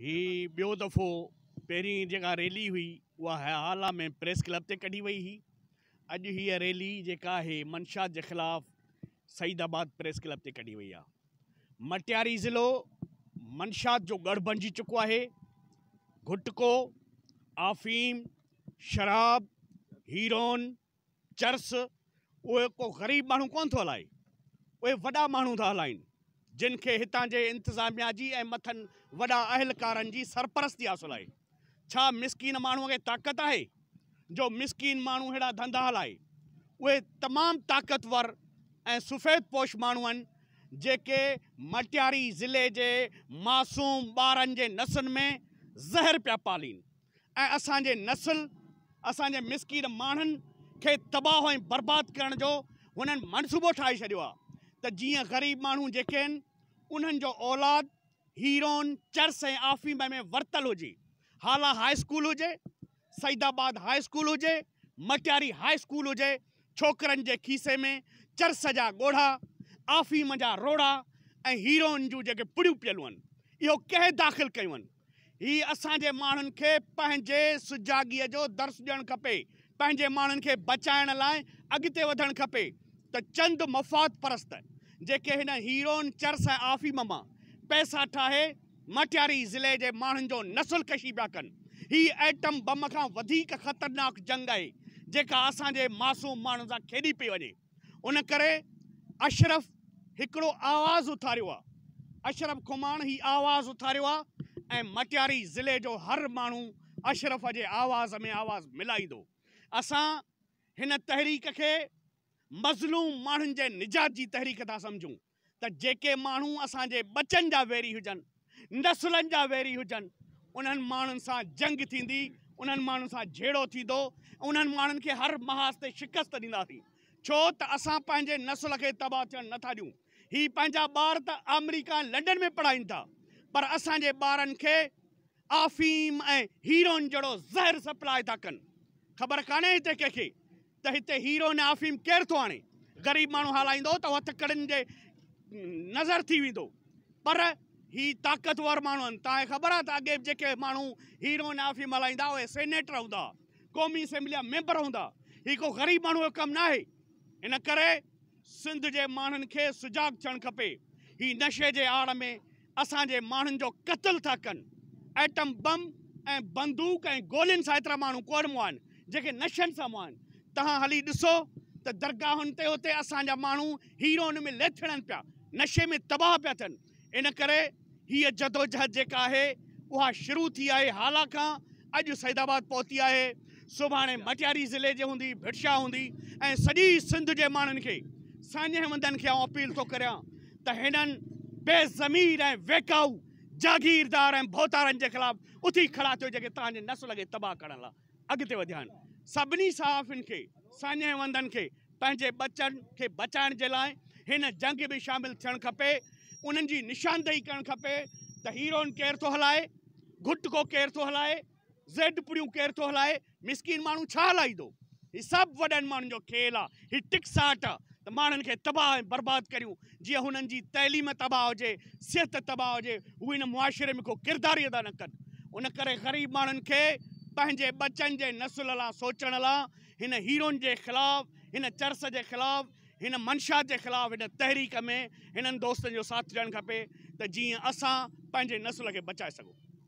هي ٻيو دفعو پهرين جيڪا ريلي هئي اها هيا هالا ۾ پريس ڪلب تي ڪڍي وئي هئي اڄ هي ريلي جيڪا آهي منشا جي خلاف سعيد آباد پريس ڪلب تي ڪڍي وئي آهي مٽياري ضلعو منشات جو ڳڙھ بنجي چڪو آهي گھٽڪو آفيم شراب هيرون چرس، اهي ڪو غريب ماڻهو ڪونه ٿو هلائي، اهي وڏا ماڻهو ٿا هلائين، جن کي هتان جي انتظاميا جي ۽ مٿن وڏا اهلڪارن جي سرپرستي حاصل آهي. ڇا مسڪين ماڻهوء کي طاقت آهي، جو مسڪين ماڻهو ههڙا ڌنڌا هلائي؟ اهي تمام طاقتور ۽ سفيد پوش ماڻهو آهن، جيڪي مٽياري ضلعي جي معصوم ٻارن جي نسن ۾ زهر پيا پالين. ۽ اسان جي نسل، اسان جي مسڪين ماڻهن کي تباهه ۽ برباد ڪرڻ جو هنن منصوبو ٺاهي ڇڏيو آهي ته جيئن غريب ماڻهو جيڪي آهن انهن جو اولاد هيرون، چرس ۽ آفيم ۾ ورتل هجي. هالا هاء اسڪول هجي، سعيد آباد هاء اسڪول هجي، مٽياري هاء اسڪول هجي، ڇوڪرن جي کيسي ۾ چرس جا ڳوڙها، آفيم جا روڙها ۽ هيرون جون جيڪي پڙيون پيل هئن اهو ڪنهن داخل ڪيون؟ هي اسان جي ماڻهن کي پنهنجي سجاڳيء جو درس ڏيڻ کپي، پنهنجي ماڻهن کي بچائڻ لاء اڳتي وڌڻ کپي ته چند مفاد پرست جيڪي هن هيروئن چرس ۽ آفيم مان پئسا ٺاهي مٽياري ضلعي جي ماڻهن جو نسل ڪشي پيا ڪن. هي ايٽم بم کان وڌيڪ خطرناڪ جنگ آهي جيڪا اسان جي معصوم ماڻهن سان کيڏي پئي وڃي. ان ڪري اشرف هڪڙو آواز اٿاريو آ اشرف کماڻ هي آواز اٿاريو آ ۽ مٽياري ضلعي جو هر ماڻهو اشرف جي آواز ۾ آواز ملائيندو اسان هن تحريڪ کي مظلوم ماڻهن جي نجات جي تحريڪ ٿا سمجهون. ته جيڪي ماڻهو اسان جي ٻچن جا ويري هجن، نسلن جا ويري هجن، انهن ماڻهن سان جنگ ٿيندي، انهن ماڻهن سان جهيڙو ٿيندو ۽ انهن ماڻهن کي هر محاذ تي شڪست ڏينداسين، ڇو ته اسان پنهنجي نسل کي تباهه ٿيڻ نه ٿا ڏيون. هي پنهنجا ٻار ته آمريڪا ۽ لنڊن ۾ پڙهائين ٿا، پر اسان جي ٻارن کي آفيم ۽ هيروئن جهڙو زهر سپلاء ٿا ڪن. خبر ڪانهي هتي ڪنهن کي ته هتي هيروئن ۽ آفيم ڪير ٿو آڻي؟ غريب ماڻهو هالائيندو ته هٿ ڪڙن جي نذر ٿي ويندو. پر هي طاقتور ماڻهو آهن. توهان کي خبر آهي ته اڳي جيڪي ماڻهو هيروئن ۽ آفيم هلائيندا اهي سينيٽر هوندا هئا، قومي اسيمبليء جا ميمبر هوندا هئا. هي ڪو غريب ماڻهوء جو ڪم ناهي. ان ڪري سنڌ جي ماڻهن کي سجاڳ ٿيڻ کپي. هي نشي جي آڙ ۾ اسان جي ماڻهن جو قتل ٿا ڪن ايٽم بم ۽ بندوق ۽ گولين سان ايترا ماڻهو ڪوڙ مئا آهن جيڪي نشن سان مئا آهن تهان هلي ڏسو ته درگاهن تي اتي اسان جا ماڻهو هيروئن ۾ ليٿڙن پيا نشي ۾ تباهه پيا ٿين ان ڪري هيء جدوجهد جيڪا آهي اها شروع ٿي آهي هالا کان اڄ سيد آباد پهتي آهي سڀاڻي مٽياري ضلعي جي هوندي ڀٽ شاهه هوندي ۽ سڄي سنڌ جي ماڻهن کي ساڃهه وندن کي آئون اپيل ٿو ڪريان ته هنن بي ضمير ۽ ويڪائو جاگيردار ۽ ڀوتارن جي خلاف اٿي کڙا ٿيو جيڪي توهان جي نسل کي تباهه ڪرڻ لاء اڳتي وڌيا آهن سڀني صحافين کي ساڃهه وندن کي پنهنجي ٻچن کي بچائڻ جي لاء هن جنگ ۾ شامل ٿيڻ کپي انهن جي نشاندهي ڪرڻ کپي ته هيرون ڪير ٿو هلائي گهٽڪو ڪير ٿو هلائي زيڊ پوريون ڪير ٿو هلائي مسڪين ماڻهو ڇا هلائيندو هي سڀ وڏن ماڻهن جو کيل آ هي ٽڪ ساٽ آ ته ماڻهن کي تباهه ۽ برباد ڪريون جيئن هنن جي تعليم تباهه هجي صحت تباهه هجي هو هن معاشري ۾ ڪو ڪردار ئي ادا نه ڪن ان ڪري غريب ماڻهن کي پنهنجي ٻچن جي نسل لا سوچڻ لا هن هيرون جي خلاف هن چرس جي خلاف هن منشات جي خلاف هن تحريڪ ۾ هنن دوستن جو ساٿ ڏيڻ کپي ته جيئن اسان پنهنجي نسل کي بچائي سگهون.